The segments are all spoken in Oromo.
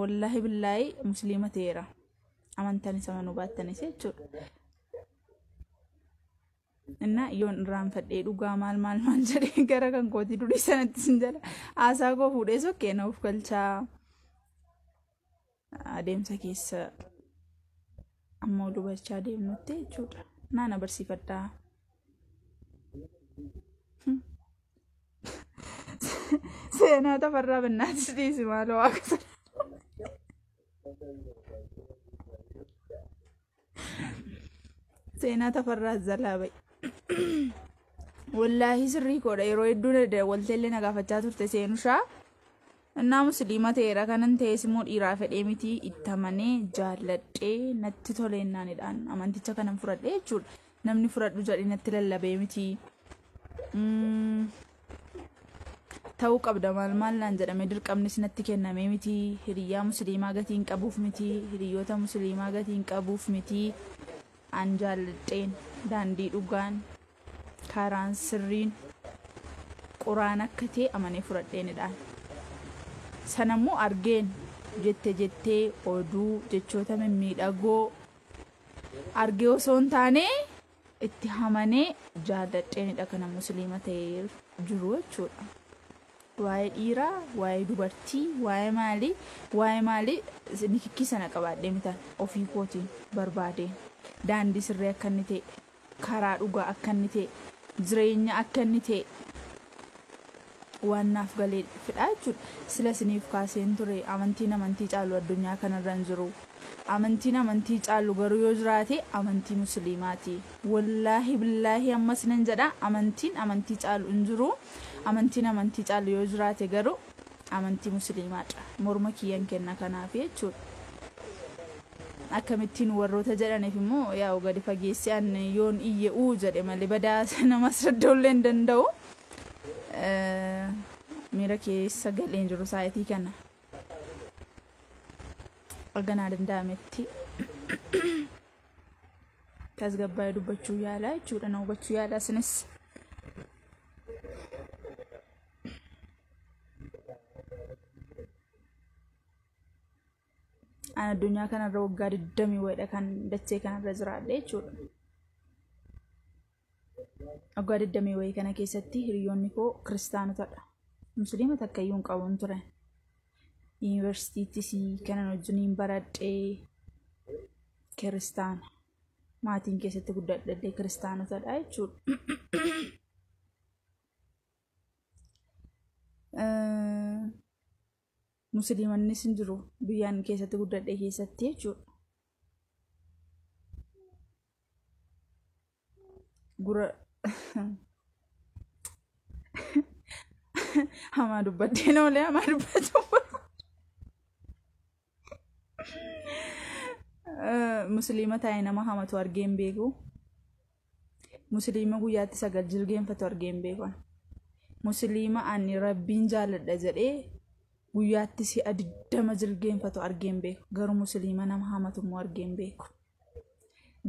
Wallaahi billaahi musliima ta'eera. Amantaan isa manuu baattanis jechuudha. Innaa yoon irraanfadhee dhugaa maal maal maal jedhee gara kan kootii durii sanatti sin jala haasaa koo fuudhee sokkee na of galchaa adeemsa keessa ammoo dubarchaa deemnutti jechuudha. Naa na barsiifadhaa. Seenaa tafarraa bannaatis dhiisi maaloo waaqa sana. Seenaa tafarraa zalaa ba'i. Wallaahi sirrii koodha yeroo hedduu walteellee na gaafachaa turte seenushaa. Innaa musliima ta'eera kanan ta'es immoo dhiiraa fedhee miti itti amanee jaalladhee natti tole innaanidhaan amanticha kanan fudhadhe jechuudha. Namni fudhadhu jedhee natti lallabee miti. Mm, Ta'uu qabda maal maal naan jedhamee dirqamnis natti kennamee miti. Hiriyyaa musliimaa gatii hin qabuuf miti. Hiriyyoota musliimaa gatii hin qabuuf miti. An jaalladheen daandii dhugaan karaan sirriin quraan akka ta'e amanee fudhadheenidhaan sanammoo argeen jette jettee oduu jechoota mimmiidhagoo argee osoo hin taane itti hamanee jaalladheenidha kana musliima ta'ee jiru jechuudha. Waa'ee dhiiraa, waa'ee dubartii, waa'ee maalii, waa'ee maalii nikikkii sana qabaadhee mitan ofii kootiin barbaadeen daandii sirrii akka inni ta'e Karaa dhugaa akka inni ta'e, jireenya akka inni ta'e waan naaf galeefidha jechuudha. Sila isiniif kaaseen ture amantiin amantii caalu addunyaa kanarra hin jiru. Amantiin amantii caalu garuu yoo jiraate amantii musiliimaati. Wollaahi billaahi amma isinan jedha amantiin amantii caalu hin jiru. Amantiin amantii caalu yoo jiraate garuu. amantii musliimaadha morma kiyyan kenna kanaaf jechuudha akkamittiin warroota jedhaniif immoo yaa'u gadi fageessee an yoon iyye uu jedhe malee badaa namas radda'uu illee hin danda'u Eh, miira keessa galee hin jiru saayitii kana erga naa danda'ametti tasgabbaa'ee dubbachuu yaalaa jechuudha na hubachuu yaalaa isinis An addunyaa kanarra waggaa 20 wayidha kan dachee kanarra jiraadhe jechuudha. Waggaa 20 wayii kana keessatti hiriyoonni koo kiristaanotadha. Musliima takka iyyuu hin qabu hin ture. Yuunivarsiitiittis kanan wajjiniin baradhe kiristaana. Maatiin keessatti guddadhe kiristaanotadha jechuudha. musliimannis hin jiru biyyaan keessatti guddadhe keessatti jechuudha. Gura hamaa dubbadheen oolee hamaa dubbachuu musliima taa'e nama hamatu argee hin beeku musliima guyyaatti sagal jilgeenfatu argee hin beeku musliima ani rabbiin jaaladha jedhee guyyaatti si'a digdama jilgeenfatu argee hin beeku garuu musliima nama hamatu immoo argee hin beeku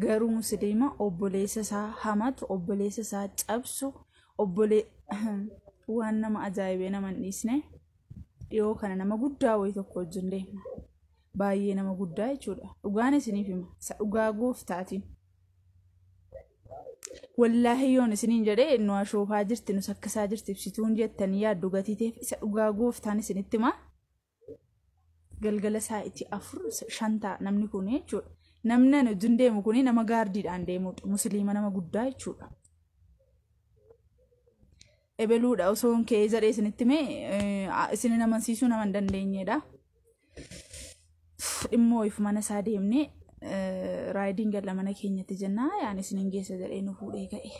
garuu musliima obboleessa isaa hamatu obboleessa isaa cabsu obbolee waan nama ajaa'ibee nama hin dhiisne dhiyoo kana nama guddaa wayii tokko wajjin deema baay'ee nama guddaa jechuudha dhugaan isiniif hima isa dhugaa gooftaatiin wallaahi yoon isiniin jedhee nu ashoofaa jirti nu sakkasaa jirti ibsituun jettanii yaaddu gatiiteef isa dhugaa gooftaan isinitti himaa galgala saa'itii afur shan ta'a namni kun jechuudha. Namni ani wajjin deemu kun nama gaardiidhaan deemudha. Musliima nama guddaa jechuudha. Ebeluudha osoo hin ka'ee jedhee isinitti mee isin hin amansiisuu nama hin dandeenyedha. Dhimma wayiif mana isaa deemnee raayidiin galla mana keenyatti jennaa yaani isin hin geessa jedhee nu fuudhee ka'e.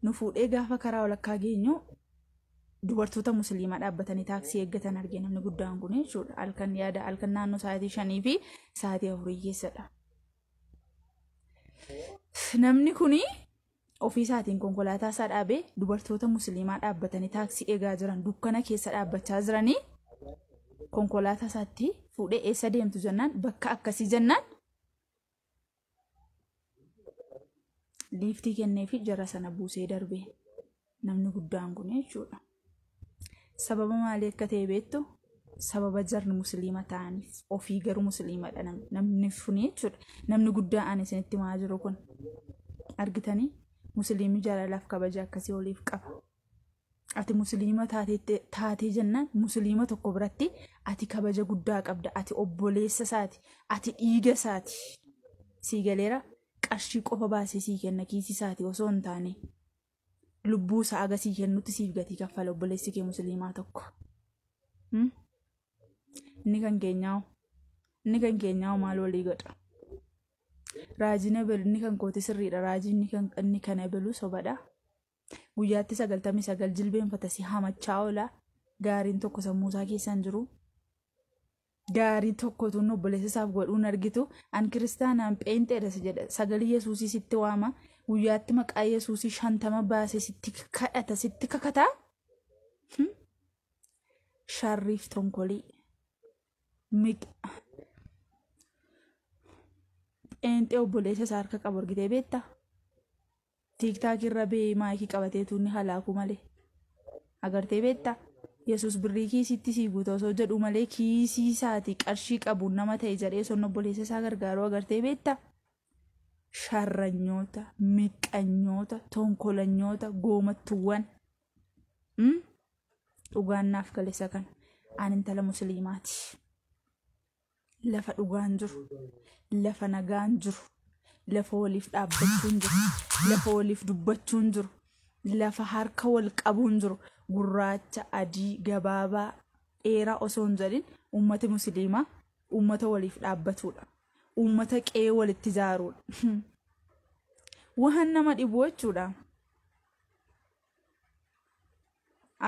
nu fuudhee gaafa karaa walakkaa geenyu dubartoota musliimaa dhaabbatanii taaksii eeggatan arge namni guddaan kun jechuudha halkan yaada halkan naannoo sa'aatii shanii fi sa'aatii afurii keessadha. Namni kun ofii isaatiin konkolaataa isaa dhaabee dubartoota musliimaa dhaabbatanii taaksii eegaa jiran dukkana keessa dhaabbachaa jiranii konkolaataa isaatti fuudhee eessa deemtu jennaan bakka akkasii jennaan liiftii kennee fi jara sana buusee darbe namni guddaan kun jechuudha. Sababa maalii akka ta'e beektu sababa jarri musliima ta'aniif ofii garuu musliimadha nam- namni suni jechuudha. Namni guddaa ani isinitti himaa jiru kun argitanii musliimni jaalalaaf kabaja akkasii oliif qaba. ati musliima taatee taatee jennaan musliima tokko biratti ati kabaja guddaa qabda ati obboleessa isaati ati dhiiga isaati sii galeera qarshii qofa baasee sii kenna kiisii isaati osoo hin taane lubbuu isaa aga sii kennutti siif gatii kaffala obboleessi kee musliimaa tokko Hmm? inni kan keenyaa'u inni kan keenyaa'u maal walii godha raajiin ebelu inni kan kooti sirriidha raajiin inni kan inni kan ebelu sobadha guyyaatti sagaltamii sagal jilbeenfata si hamachaa oola gaariin tokko sammuu isaa keessa hin jiru gaarii tokkotu inni obboleessa isaaf godhuu hin argitu an kiristaanaan pheenxeedha si jedha sagalee yesuusii sitti waama guyyaatti maqaa yesuusii shantama baase sitti kadhata sitti kakata Hmm? sharriif tonkolii miq- pheenxee obboleessa isaa harka qabu argitee beektaa Tiktak irra bee maayikii qabatee tuu inni halaakuu malee. Agartee beetta? Yesuus birrii kiisiitti sii guuta osoo jedhuu malee kiisii isaati qarshii qabuun nama ta'e jedhee osoo obboleessa isaa gargaaruu agartee beetta? Sharranyoota, miqqanyoota, tonkolanyoota, goomattuwwan. Dhugaan naaf gale isa kana. Ani intala musliimaati. lafa dhugaan jiru, lafa nagaan jiru, lafa waliif dhaabbachuun jiru, lafa waliif dubbachuun jiru, lafa harka wal qabuun jiru, gurraacha, adii, gabaabaa, dheeraa osoo hin jedhin uummati musliimaa uummata waliif dhaabbatudha. Uummata qe'ee walitti ijaarudha. Waan nama dhibu jechuudha.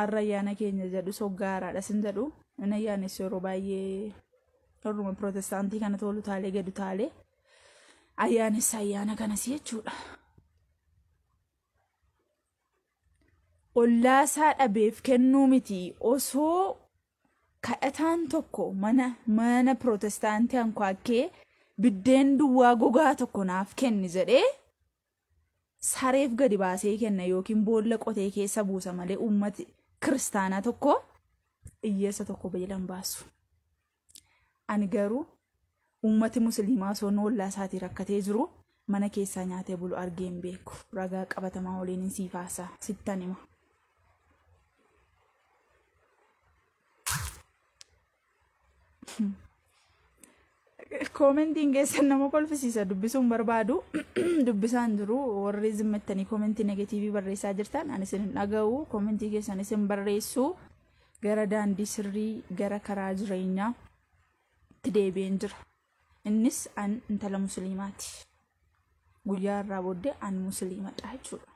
arra ayyaana keenya jedhu soggaa haaraadha sin jedhu hin ayyaanessu yeroo baay'ee warruma pirootestaantii kana toolu taalee gadu taalee ayyaanessa ayyaana kanas jechuudha. Ollaasaa dhabeef kennuu miti osoo kadhataan tokko mana mana pirootestaantii ankwaakkee biddeen duwwaa gogaa tokko naaf kenni jedhee sareef gadi baasee kenna yookiin boolla qotee keessa buusa malee uummati kiristaanaa tokko iyyeessa tokko beela hin baasu. Ani garuu uummati musliimaa osoo noollaa isaatii rakkatee jiru mana keessaa nyaatee bulu argee hin beeku. Ragaa qabatamaa waliin hin siif haasaa sittan hima. Koomentiin keessan nama kolfisiisa dubbisuun barbaadu dubbisaan jiru warri zimmattanii koomentii negatiivii barreessaa jirtan ani isin hin dhaga'u koomentii keessan isin barreessu gara daandii sirrii gara karaa jireenyaa itti deebi'een jira. Innis an intala musliimaati. Guyyaa irraa booddee an musliimadha jechuudha.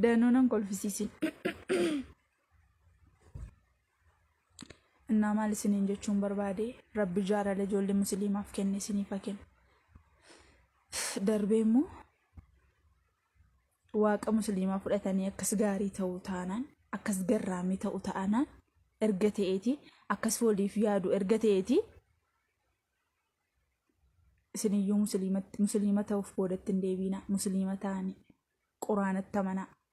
Danuu nan kolfisiisin. innaa maal isiniin jechuun barbaade rabbi jaalala ijoollee musliimaaf kenne isiniif haa kennu darbee immoo waaqa musliimaa fudhatanii akkas gaarii ta'u taanaan akkas garraamii ta'u taanaan erga ta'eeti akkas waliif yaadu erga ta'eeti isiniyyuu musliima ta'uuf boodatti hin deebiina musliima ta'anii quraanatti amanaa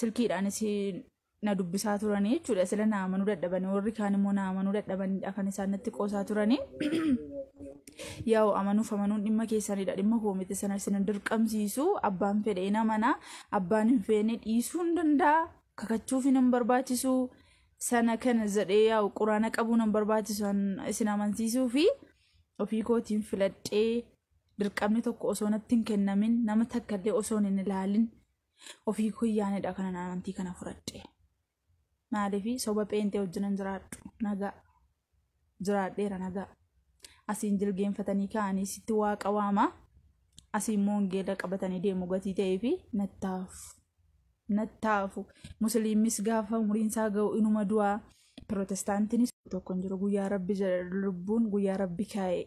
silkiidhaanis na dubbisaa turanii jechuudha sila na amanuu dadhabanii warri kaan immoo na amanuu dadhabaniidha kan isaan natti qoosaa turanii yaa'u amanuuf amanuun dhimma keessanidha dhimma koo miti sana isin hin dirqamsiisu abbaan fedhe hin amana abbaan hin feene dhiisuu hin danda'a kakachuuf hin barbaachisu sana kana jedhee yaa'u quraana qabuun hin barbaachisu an isin amansiisuu fi ofii kootiin filadhee dirqamni tokko osoo natti hin kennamin nama takkallee osoo hin ilaalin ofii koo yaanidha kanan amantii kana fudhadhe maaliif soba pheenxee wajjinan jiraadhu nagaa jiraadheera nagaa asiin jilgeenfatanii ka'anii sitti waaqa waamaa asiin moongeela qabatanii deemu gatii ta'ee fi nattaafu nattaafu musliimis gaafa umriin isaa ga'u inuma du'aa pirootestaantinis tokko hin jiru guyyaa rabbi jedha lubbuun guyyaa rabbi kaa'e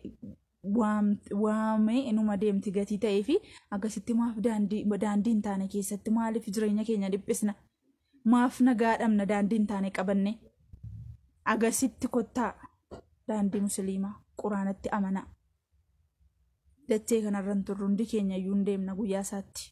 waamee inuma deemti gatii ta'ee fi akkasitti maaf daandii hin taane keessatti maaliif jireenya keenya dhiphisna maaf nagaa dhabna daandii hin taane qabanne agasitti kottaa daandii musliimaa quraanatti amanaa dachee kanarra hin turru hundi keenya iyyuu hin deemna guyyaa isaatti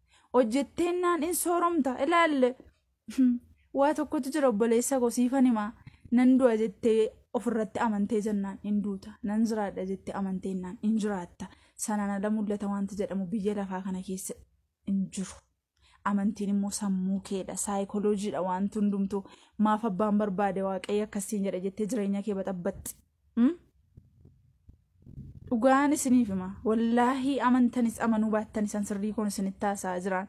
hojjetteennaan in sooromta ilaalle waa tokkotu jira obboleessa koo siifan himaa nan du'a jettee ofirratti amantee jennaan in duuta nan jiraadha jettee amanteennaan in jiraatta sanaan ala mul'ata wanti jedhamu biyya lafaa kana keessa in jiru. Amantiin immoo sammuu keedha saayikolojiidha wanti hundumtuu maaf abbaan barbaade waaqayyo akkasiin jedha jettee jireenya kee baxabbaxxi. dhugaan isiniif hima wallaahii amantanis amanuu baattan isan sirrii koon isinitti haasa'aa jiraan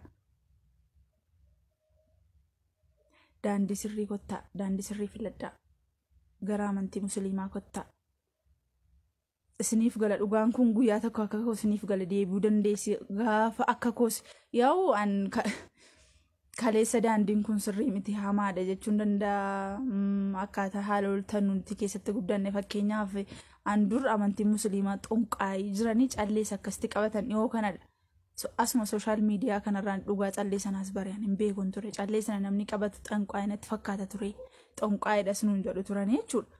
daandii sirrii kottaa daandii sirrii filadhaa gara amantii musliimaa kottaa isiniif gala dhugaan kun guyyaa tokko akka koo isiniif gala deebi'uu dandeessi gaafa akka koos yaa'u an kaleessa daandiin kun sirrii miti hamaadha jechuun danda'a Mm, akkaataa haala oltan nuti keessatti guddanne fakkeenyaaf an dur amantiin musliimaa xonqaayii jiranii callees akkasitti qabatan dhihoo kanadha So, asuma sooshaal miidiyaa kanarraan dhugaa callee sanaas bari'an hin beekun ture callee sana namni qabatu xonqaayii natti fakkaata ture xonqaayiidhas nuun jedhu turanii jechuudha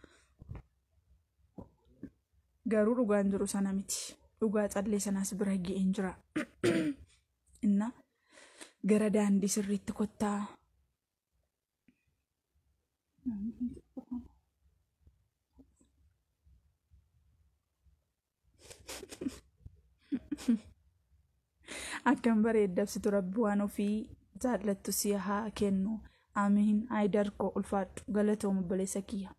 garuu dhugaan jiru sana miti dhugaa callee sanaas bira ga'een jira Innaa gara daandii sirriitti kottaa. Akkam bareeddabsitu rabbi waan ofii jaallattu si haa kennu. Amiin. Haayidar koo ulfaadhu. Galatoom obboleessa kiyya.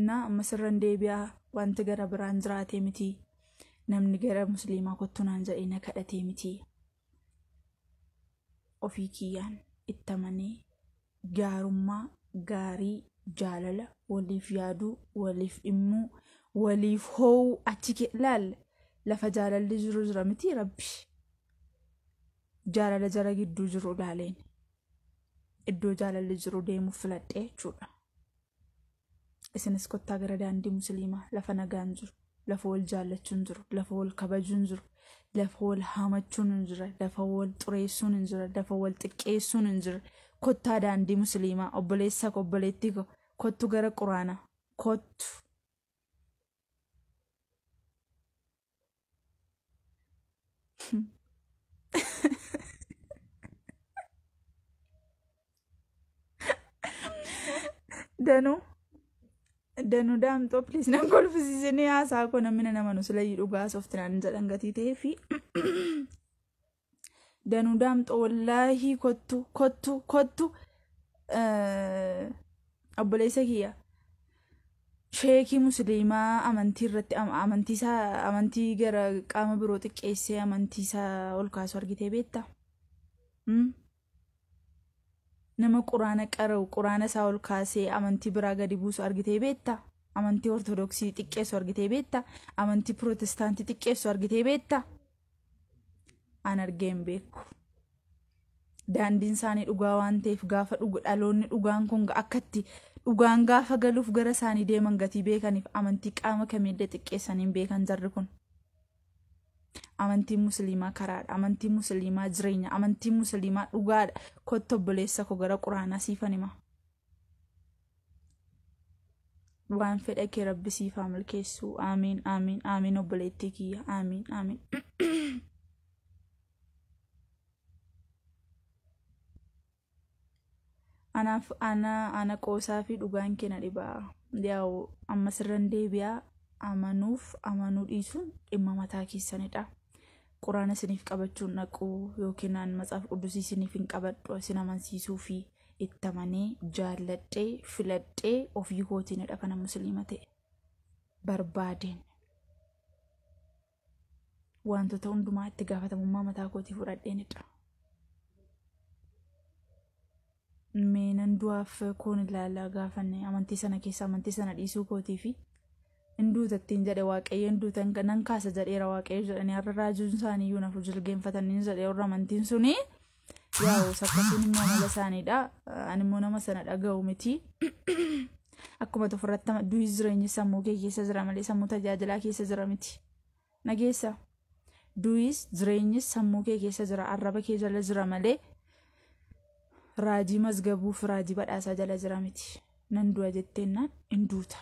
Innaa ammas irran deebi'aa wanti gara biraan jiraatee miti. Namni gara musliimaa kottu naan jedhee na kadhatee miti. Ofii kiyyaan itti amanee gaarummaa, gaarii, jaalala, waliif yaaduu, waliif dhimmuu, waliif hoo'uu achi kee laal lafa jaalalli jiru jira miti rabbi. Jaalala jara gidduu jiru ilaaleen iddoo jaalalli jiru deemuuf filadhee jechuudha. isinis kottaa gara daandii musliimaa lafa nagaan jiru lafa wal jaallachuun jiru lafa wal kabajuun jiru lafa wal haamachuun hin jira lafa wal xureessuun hin jira lafa wal xiqqeessuun hin jira kottaa daandii musliimaa obboleessa ko obboleettii ko kottu gara quraana kottu Danuu. Danuu daamxoo please nan kolfisiisinii haasaa koo namni na namanu silayyuu dhugaa softinaan jedhan gatii ta'ee fi Danuu daamxoo wallaahii kottu kottu kottu eh, obboleessa kiyya sheekii musliimaa amantii irratti am- amantii isaa amantii gara qaama biroo xiqqeessee amantii isaa ol kaasu argitee beekta. Mm? Nama quraana qara'u, quraana isaa ol kaasee amantii biraa gadi buusu argitee beekta? Amantii Ortodoksii xiqqeessu argitee beekta? Amantii Pirootestaantii xiqqeessu argitee beekta? An argee hin beeku. Daandiin isaanii dhugaa waan ta'eef gaafa dhugu dhaloonni dhugaan kun akkatti dhugaan gaafa galuuf gara isaanii deeman gatii beekaniif amantii qaama kamiillee xiqqeessanii hin beekan jarri kun. Amantiin musliimaa karaadha. Amantiin musliimaa jireenya. Amantiin musliimaa dhugaadha. Kottu obboleessa koo gara quraanaa siifan hima. Waan fedha kee rabbi siif haa milkeessu. Aamiin aamiin aamiin obboleettii kiyya. Aamiin aamiin. anaaf ana ana qoosaa fi dhugaan kee na dhiba yaa'u amma sirran deebi'aa amanuuf amanuu dhiisuun dhimma mataa keessanidha quraana isiniif qabachuun dhaqu yookiin an matsaaf quddusii isiniif hin qabadhu isin amansiisuu fi itti amanee jaalladhee filadhee ofii kootiinidha kana musliima ta'e barbaadeen wantoota hundumaa itti gaafatamummaa mataa kootii fudhadheenidha. Mee nan du'aaf koon ilaalaa gaafanne amantii sana keessa amantii sana dhiisuu kootii fi hin duutattiin jedhe waaqayyo hin duutan nan kaasa jedheera waaqayyo jedhanii har'a raajuun isaanii iyyuu nafu jilgeenfatanii jedhe warra amantiin sunii. Yaa'u sakkatuun immoo amala isaaniidha. Ani immoo nama sana dhaga'u miti. Akkuma ofirratti du'i jireenyi sammuu kee keessa jira malee sammuu tajaajilaa keessa jira miti. Nageessa. Du'is jireenyis sammuu kee keessa jira arraba kee jala jira malee raajii mazgabuu fi raajii badhaasaa jala jira miti. Nan du'a jetteennaan in duuta.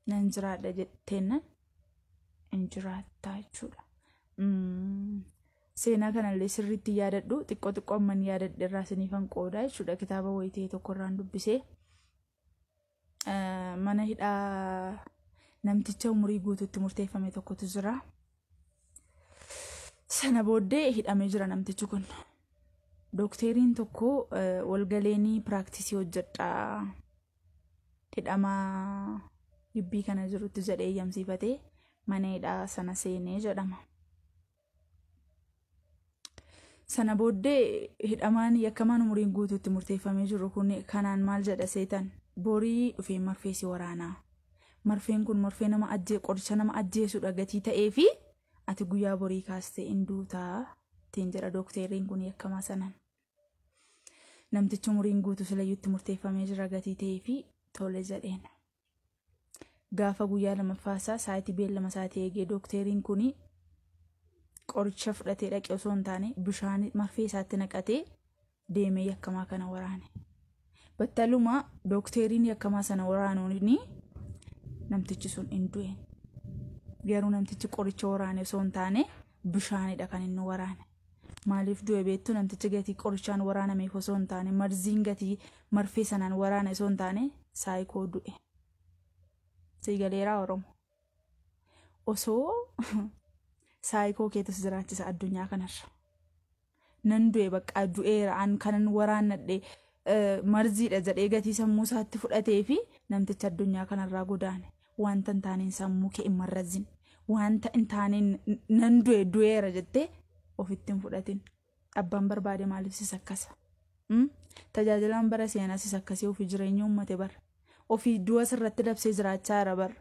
Nan jiraadha jetteennaan in jiraattaa jechuudha. Seenaa kana illee sirriitti yaadadhu. Xiqqoo xiqqoo amman yaadadhe irraa isiniifan qoodaa jechuudha. Kitaaba wayii ta'e tokko irraan dubbisee. Eh, Mana hidhaa namticha umurii guutuutti murteeffame tokkotu jira. Sana booddee hidhamee jira namtichi kun. Dookteeriin tokko eh, walgaleenii piraaktisii hojjedhaa hidhamaa gibbii kana jirutti jedhee eeyyamsiifatee mana hidhaa sana seenee jedhama. Sana booddee hidhamaan yakkamaan umuriin guutuutti murteeffamee jiru kun kanaan maal jedha seetan borii dhufee marfee si waraanaa. Marfeen kun marfee nama ajjee qoricha nama ajjeesudha gatii ta'ee fi ati guyyaa borii kaastee in duutaa ittiin jedha dookteeriin kun yakkamaa sanaan. Namtichi umuriin guutuu silayyuutti murteeffamee jira gatii ta'ee fi tole jedheen. gaafa guyyaa lamaffaa isaa sa'aatii beellama isaatii eegee dookteeriin kun qoricha fudhatee dhaqe osoo hin taane bishaan marfee isaatti naqatee deemee yakkamaa kana waraane. Battaluma dookteeriin yakkamaa sana waraanuun namtichi sun hin du'e. Garuu namtichi qoricha waraane osoo hin taane bishaanidha kan inni waraane. Maaliif du'e beektu namtichi gatii qorichaan waraanameef osoo hin taane marziin gatii marfee sanaan waraane osoo hin taane saayikoo du'e. Sii galeeraa Oromo. Osoo saayikoo keetu si jiraachisa addunyaa kanarra. Nan du'e baqqaa du'eera an kanan waraannadhe eh, marziidha jedhee gatii sammuu isaatti fudhatee fi namtichi addunyaa kanarraa godaane. Wanta hin taaneen sammuu kee hin marrazzin. Wanta hin taaneen nan du'e du'eera jettee ofitti hin fudhatin. Abbaan barbaade maaliif si sakkasa? Mm? Tajaajilaan bara seenaa si sakkasee ofii jireenya uummate bar. Ofii du'a sirratti dabsee jiraachaa jira bar.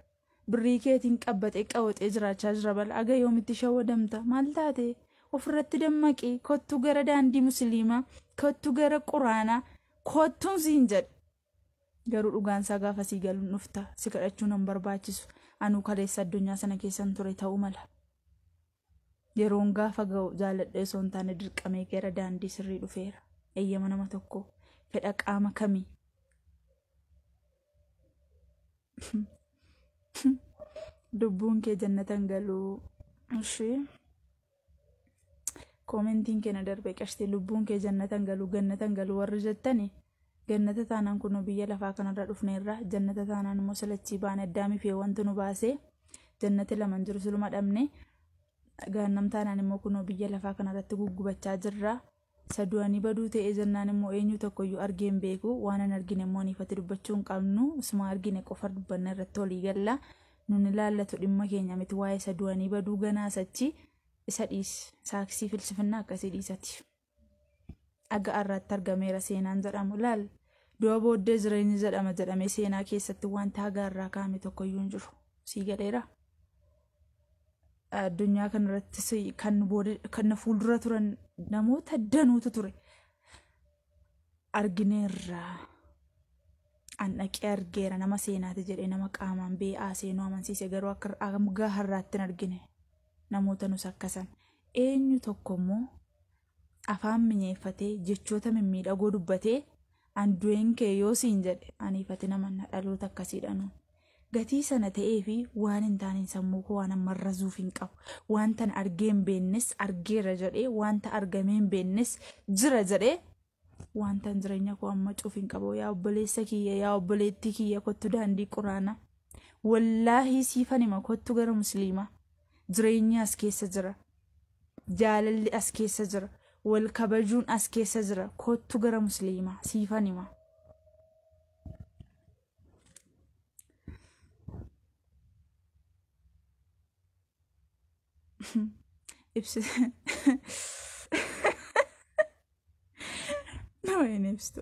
Birrii keetiin qabbatee qawaxee jiraachaa jira bar. Aga yoomitti shawwadamta? Maal taate? Ofirratti dammaqi. Kottu gara daandii musliimaa. Kottu gara quraanaa. Kottuun siin jedhe. Garuu dhugaan isaa gaafa sii galu hin dhufta. Si kadhachuu nan barbaachisu. Anuu kaleessa addunyaa sana keessan ture ta'uu mala. Yeroon gaafa ga'u jaaladhee osoo hin taane dirqamee gara daandii sirrii dhufeera. Eeyyama nama tokkoo. Fedha qaama kamii? Lubbuun kee jannatan galuu. Ishii. koomentiin kee na darbe qashti lubbuun kee jannatan galu gannatan galu warri jettani gannata taanaan kunoo biyya lafaa kanarra dhufneerra jannata taanaan immoo silachii baane addaamii fi wantu nu baasee jannati laman jiru siluma dhabne gaannam taanaan immoo kunoo biyya lafaa kanarratti guggubachaa jirra Isa du'anii baduu ta'ee jennaan immoo eenyuu tokkoyyuu argee hin beeku. Waan hin argine immoo ifatti dubbachuu hin qabnu. Isuma argine qofa dubbanna irratti walii galla. Nun ilaallatu dhimma keenya miti waa'ee isa du'anii baduu ganaa sachi isa dhiis saaksii filsifinnaa akkasii dhiisati. Dhagaa irraatti argameera seenaan jedhamu laal du'a booddee jireenyi jedhama jedhamee seenaa keessatti wanta hagaa irraa kaa'ame tokkoyyuu hin jiru. Sii galeera? addunyaa kanarrattis kan nu booda kan na fuuldura turan namoota danuutu ture argineerra an dhaqee argeera nama seenaati jedhee nama qaamaan bee'aa seenuu amansiise garuu akka hanga har'aatti hin argine namoota nus akkasan eenyu tokko immoo afaan minyeeffatee jechoota mimmiidhagoo dubbatee an du'een kee yoo siin jedhe ani ifatin amanna dhaloota akkasiidhanu gatii sana ta'ee fi waan hin taaneen sammuu koo waan amma razuuf hin qabu wantan argee hin beennes argeera jedhee wanta argamee hin beennes jira jedhee wantan jireenya koo amma cuuf hin qabu yaa obboleessa kiyya yaa obboleettii kiyya kottu daandii quraana wallaahi siifan hima kottu gara musliimaa Jireenyi as keessa jira. Jaalalli as keessa jira. Wal kabajuun as keessa jira. Kottu gara musliimaa siifan hima. Ibsi. Nama hin ibsitu.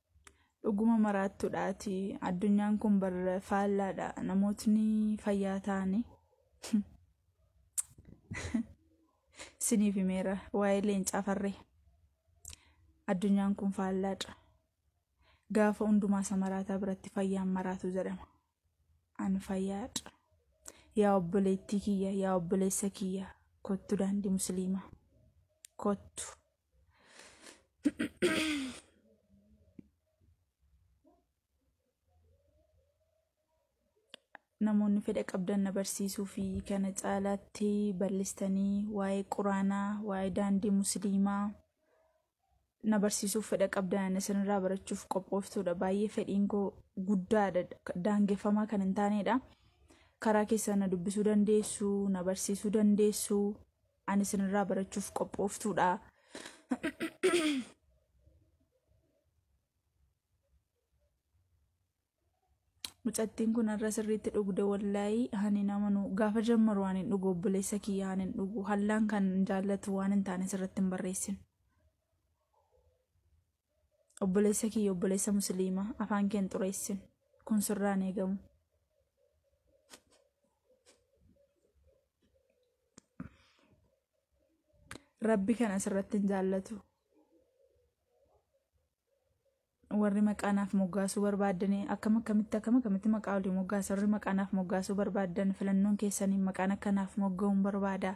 dhuguma maraattuudha ati addunyaan kun bar faallaadha namootni fayyaa ta'anii siniif himeera waa'ee leencaa farree addunyaan kun faallaadha gaafa hundumaa isa maraataa biratti fayyaan maraatu jedhama an fayyaadha yaa obboleettii kiyya yaa obboleessa kiyya kottu daandii musliimaa kottu namoonni fedha qabdan na barsiisuu fi kana caalaatti bal'istanii waa'ee quraanaa waa'ee daandii musliimaa na barsiisuuf fedha qabdan isinirraa barachuuf qophooftuudha baay'ee fedhiin koo guddaadha daangeffamaa kan hin taanedha karaa keessaa na dubbisuu dandeessu na barsiisuu dandeessu Ani isinirraa barachuuf qophooftuudha. Mucattiin kun har'a sirriitti dhugde wallaahi ani nama nu gaafa jammaru waan hin dhugu obboleessa kiyya waan hin dhugu hallaan kan jaallatu waan hin taane sirratti hin barreessin. obboleessa kiyya obboleessa musliima afaan keen xureessin kun sirraan eegamu rabbi kan asirratti hin jaallatu warri maqaanaaf moggaasuu barbaadanii akkam akkamitti akkam akkamitti maqaa olii moggaasa warri maqaanaaf moggaasuu barbaadan filannoon keessaniin maqaan akkanaaf mogga'uun barbaada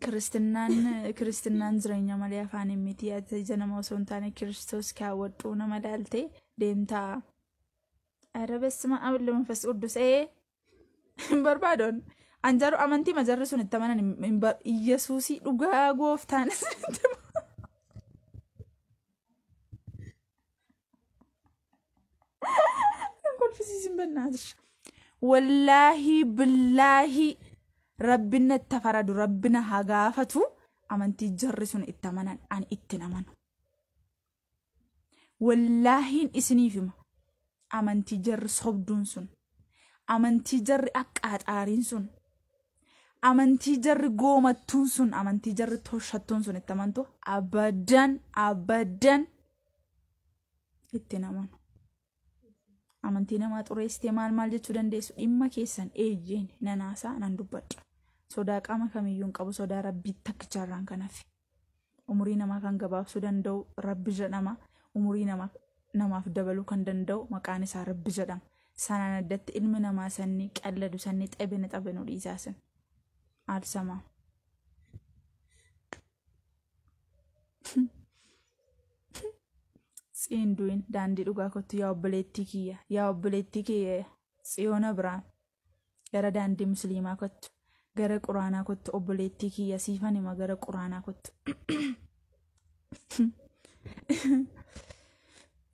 Kiristinnaan kiristinnaan jireenya malee afaaniin miti ati ija nama osoo hin taane kiristoos kaawwadhu nama ilaalte deemtaa. Ara bessima abille manfas quddus ee hin barbaadoon an jaru amantii majarri sun itti amanan hin- hin bar- Iyyasuusii dhugaa gooftaanis itti kolfisiisin bannaatis wallaahii billaahii rabbina itti faradu rabbina haa gaafatu amantii jarri sun itti amanan ani itti hin amanu wallaahiin isiniif hima amantii jarri sobduun sun amantii jarri aqqaaxaariin sun amantii jarri goomattuun sun amantii jarri toshattuun sun itti amantu abadan abadan ittiin amanu. Amantii namaa xureessitee maal maal jechuu dandeessu dhimma keessan eeyyeen nan haasaa nan dubbadha. Sodaa qaama kamiyyuu hin qabu sodaa rabbii takkicharraan kan hafe. Umurii namaa kan gabaabsuu danda'u rabbi jedhama. Umurii namaa namaaf dabaluu kan danda'u maqaan isaa rabbi jedhama. Sanaan addatti ilmi namaa sanni qalladu sanni xebene xabenu dhiisaa sun. Aalsamaa. Tsiin du'in daandii dhugaa kottu yaa obboleettii kiyya yaa obboleettii kiyya tsiyoon abiraam gara daandii musliimaa kottu gara quraanaa kottu obboleettii kiyya siifan hima gara quraanaa kottu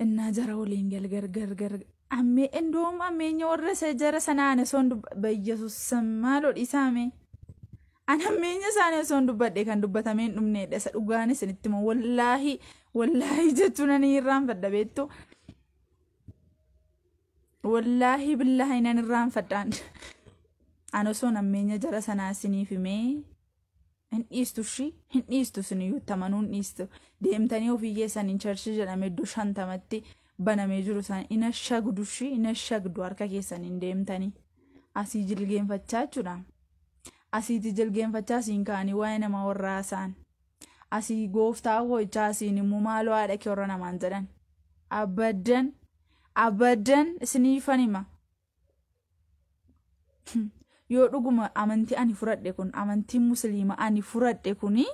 innaa jara waliin galgar gargar ammee indoom ammeenya warra isa jara sanaan osoon dubba bayyesus maaloo dhiisaamee An hammeenya isaanii osoon dubbadhe kan dubbatamee hin dhumneedha. Isa dhugaan isinitti immoo wallaahi wallaahi jechuun ani irraanfadha beektu. Wallaahi billaahi nan irraanfadhaan. An osoon hammeenya jara sanaa isiniif himee hin dhiistu shi hin dhiistu isin iyyuu tamanuu hin dhiistu. Deemtanii ofii keessan hin charshi jedhame iddoo shantamatti banamee jiru sana hin ashagdu shi hin ashagdu harka keessan hin deemtanii. Asii jilgeenfachaa jechuudha. asiiti jilgeenfachaa siin ka'anii waa'ee namaa warra haasa'an. Asii gooftaa koo jechaa asiin immoo maaloo haadha kee warra namaan jedhan. Abaddan abaddan isiniifan hima. Yoo dhuguma amantii ani fudhadhe kun amantiin musliima ani fudhadhe kuni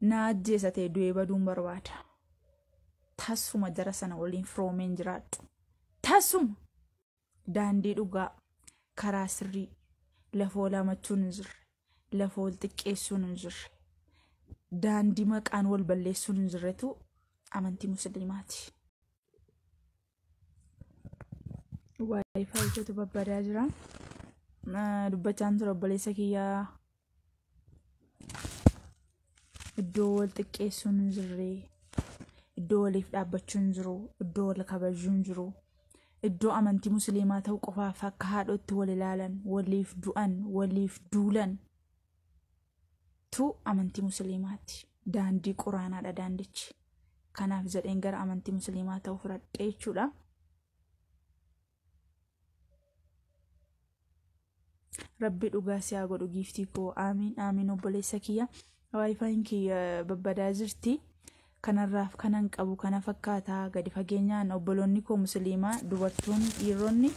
na ajjeesa ta'e du'ee baduun barbaada. Tasuma jara sana waliin firoomeen jiraadhu. Tasuma! Daandii dhugaa, karaa sirrii, lafoo laamachuun hin jirre, lafoo wal xiqqeessuun hin jirre, daandii maqaan wal balleessuun hin jirretu amantii musliimaati. Waayifaayichatu babbadaa jira. Dubbachaan ture obboleessa kiyyaa iddoo wal xiqqeessuun hin jirre iddoo waliif dhaabbachuun hin jiru iddoo wal kabajuun hin jiru iddoo amantii musliimaa ta'uu qofaaf akka haadhootti wal ilaalan waliif du'an waliif duulan tu amantii musliimaati daandii quraanaadha daandichi kanaaf jedheen gara amantii musliimaa ta'uu fudhadhe jechuudha. rabbi dhugaa si haa godhu giiftii koo aamiin aamiin obboleessa kiyya waayifaayin kiyya babbadaa jirti kanarraaf kanan qabu kana fakkaataa gadi fageenyaan obboloonni koo musliimaa dubartoonni dhiironni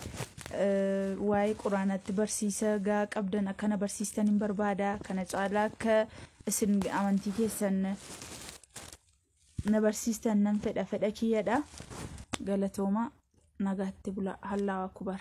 eh, waa'ee quraanaatti barsiisa gaa qabdan akkana barsiistan hin barbaada kana caalaa akka isin amantii keessan na barsiistan nan fedha fedha kiyyadha galatooma nagaatti bula hallaawa kubar